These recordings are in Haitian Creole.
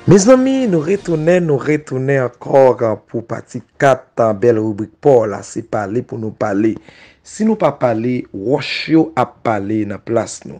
Mezanmi nou retounen nou retounen ankor pou pati 4 tan bel ribrik paw la se pale pou nou pale si nou pa pale roch yo ap pale nan plas nou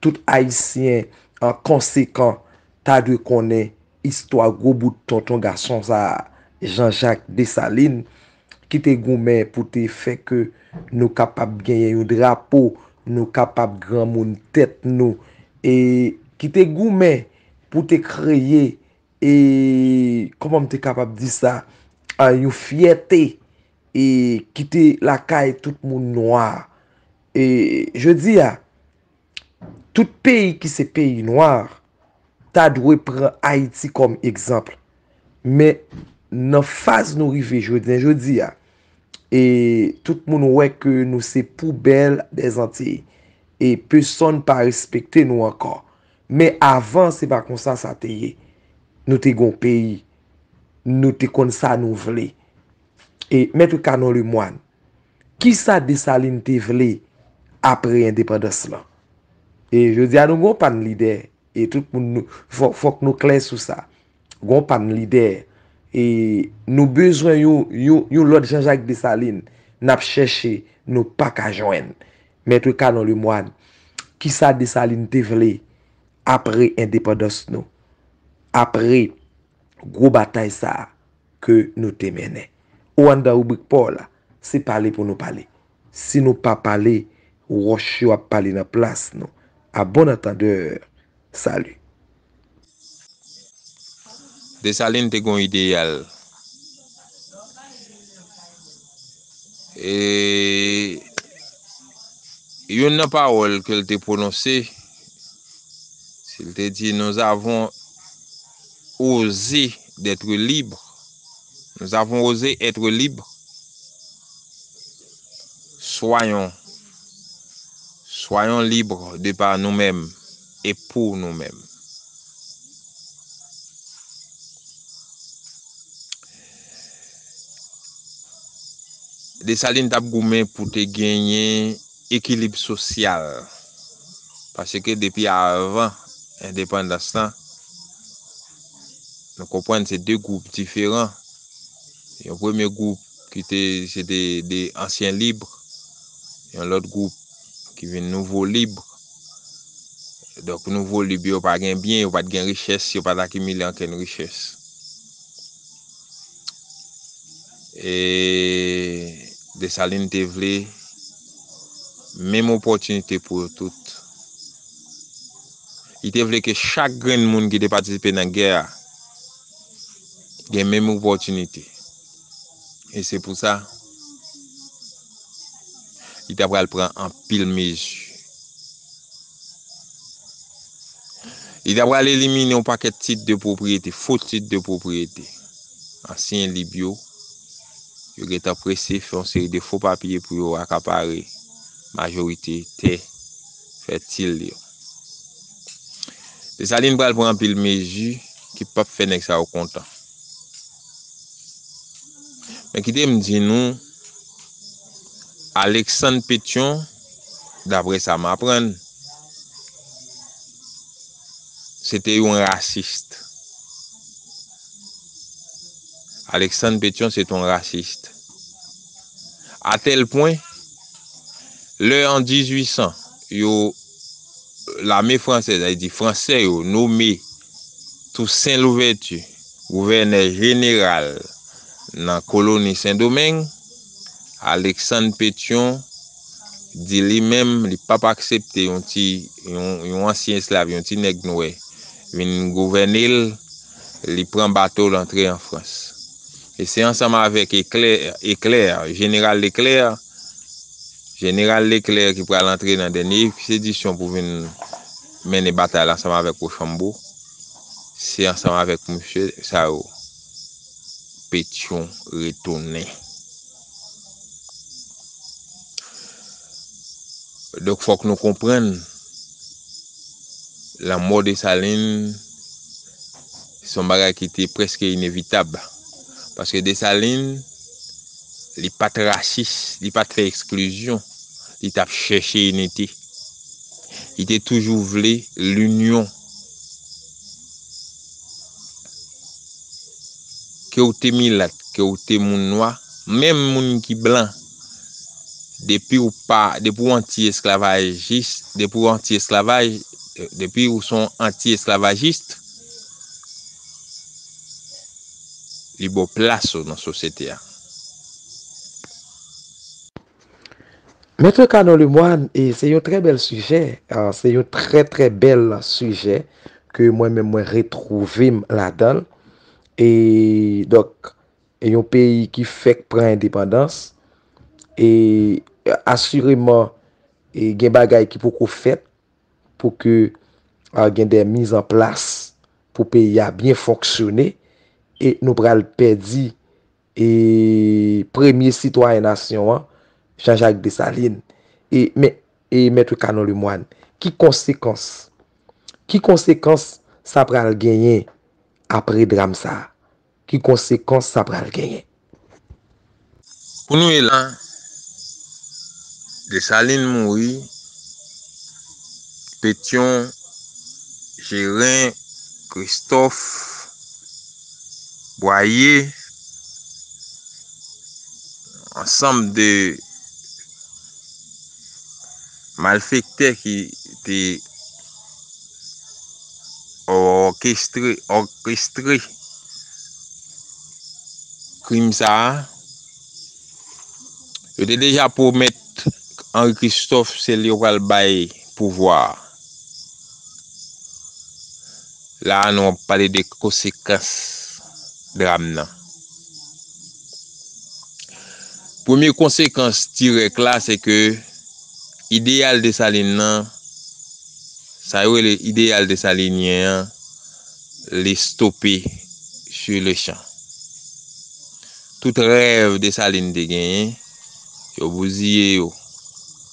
Tout ayisyen konsekan ta dwe konnen istwa gwo bout tonton gason sa a, Jean Jacques Dessalines, ki te goumen pou te fè ke nou kapab genyen yon drapo, nou kapab granmoun tèt nou, e ki te goumen pou te kreye, e, kòman m te kapab di sa, yon fyète ki te lakay tout moun nwa. E jodi a, tout peyi ki se peyi noir ta dwe pran Ayiti kòm egzanp. Men nan faz nou rive jounen jodi a, e tout moun wè ke nou se poubèl dè Zantiy. E pesonn pa respekte nou ankò. Men avan se pa konsa sa te ye. Nou te gon peyi. Nou te konn sa nou vle. E Maitre Canon Lemoine. Kisa Desalin te vle apre endepandans lan? E jodi a nou gen yon pann lide, e tout moun nou, fòk nou klè sou sa. Gen yon pann lide. E nou bezwen yon, yon, yon lòt Janjak Desalin. N ap chèche, nou pa ka jwenn. Maitre Canon Lemoine, kisa Desalin te vle apre endepandans nou? Apre gwo batay sa a ke nou te mennen? Ou anndan ribrik pa w la. Se pale pou nou pale. Si nou pa pale, wòch yo ap pale nan plas nou. A bon antandeur, salut. Dessalines te gon ideyal e youn nan pawòl ke l te pwononse, li te di, nous avons Oser d'être libre Nous avons osé être libres Soyons Soyons libres de par nous-mêmes et pour nous-mêmes Dessalines tap goumen pou te genyen ekilib sosyal, paske depi avan endepandans lan Nou konprann se 2 gwoup diferan. Yon premye gwoup ki te se te de ansyen libre, yon lòt gwoup ki vin nouvo libre. Donk nouvo libre yo pa gen byen, yo pat gen richès, yo pat akimile ankenn richès. E Desalin te vle menm opòtinite pou yo tout. Li te vle ke chak grenn moun ki te patisipe nan gè a gen menm opòtinite. E se pou sa, li ta pral pran anpil mezi. Li ta pral elimine yon pakèt tit de pwopriyete, fo tit de pwopriyete. Ansyen lib yo, yo gen tan prese fè yon seri de fo papye pou yo akapare majorite tè. fètil yo. Desalin pral pran anpil mezi ki pap fè nèg sa yo kontan. Men kite m di nou, Aleksann Petyon, dapre sa m aprann, se te yon rasist. Aleksann Petyon se te yon rasist. Atèl pwen, lè an 1800 yo, lame fransèz, sa vle di Fransè yo nome Tousen Louvèti gouvènè jeneral nan koloni Sendomeng, Aleksann Petyon di li menm li p ap aksepte yon ti, yon ansyen esklav, yon ti nèg nwè vin gouvène l, li pran bato l antre an Frans. E se ansanm avèk Eklè, Eclair, Jeneral Leklèr, Jeneral Leklèr ki pral antre nan dènye ekspedisyon pou vin mennen batay la ansanm avèk Wochanbo. Se ansanm avèk msye sa yo Petyon retounen. Donk fòk nou konprann lanmò Desalin. Se yon bagay ki te prèske inevitab, paske Desalin, li pa t rasis, li pa t fè eksklizyon, li t ap chèche inite. Li te toujou vle linyon. Ke ou te milat, ke ou te moun nwa, menm moun ki blan, depi ou pa, depi ou anti-esklavajis, depi ou anti-esklavaj, depi ou se yon anti-esklavajist, Li ba w plas ou nan sosyete a. Maitre Canon Lemoine e se yon trè bèl sijè, se yon trè trè bèl sijè ke mwen menm mwen retwouve m ladan l. E donk e yon peyi ki fèk pran endepandans e asireman e gen bagay ki poko fèt. pou ke gen de miz an plas pou peyi a byen fonksyone e nou pral pèdi e premye sitwayen nasyon an Jean Jacques Dessalines e men e Maître Canon Lemoine ki konsekans ki konsekans sa pral genyen apre dram sa Ki konsekans sa pral genyen? Pou nou ye la, Desalin mouri, Petyon, Jeren, Kristòf, Bwaye, ansanm de. Malfektè ki te òkestre krim sa a, yo te deja pwomèt Henri Christophe se li yo pral bay pouvwa a. La a nou ap pale de konsekans dram nan. Premye konsekans dirèk la se ke ideyal Desalin lan, sa yo rele ideyal desalinyen an, li stope su le chan. Tout rèv Desalin te genyen, yo bouziye yo.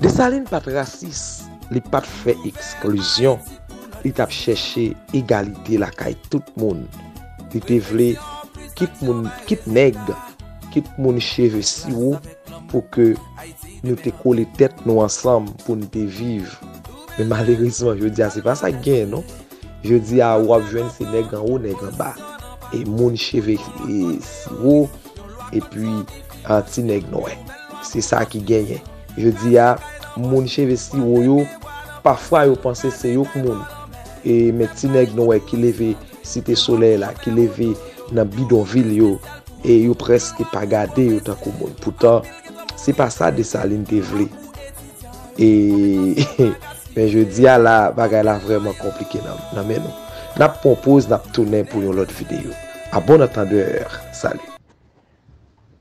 Desalin pat rasis, li pat fè eksklizyon, li tap chèche egalite lakay tout moun. Li te vle kit moun, kit nèg, kit moun cheve siwo pou ke nou te kole tèt nou ansanm pou nou te viv. Men malerezman jodi a se pa sa ki genyen non. Jodi a ou ap jwenn se nèg anwo, nèg anba. E moun cheve siwo, epi an ti nèg nwè. Se sa ki genyen. Jodi a, moun cheve siwo yo, pafwa yo panse se yo k moun. E men ti nèg nwè ki leve site solèy la, ki leve nan bidon vil yo, e yo preske pa gade yo tankou moun. Poutan, se pa sa Desalin te vle. E men jodi a la bagay la vreman konplike nan men nou. Nap pran yon poz nap tounen pou yon lot video. A bon antandeur. Salut.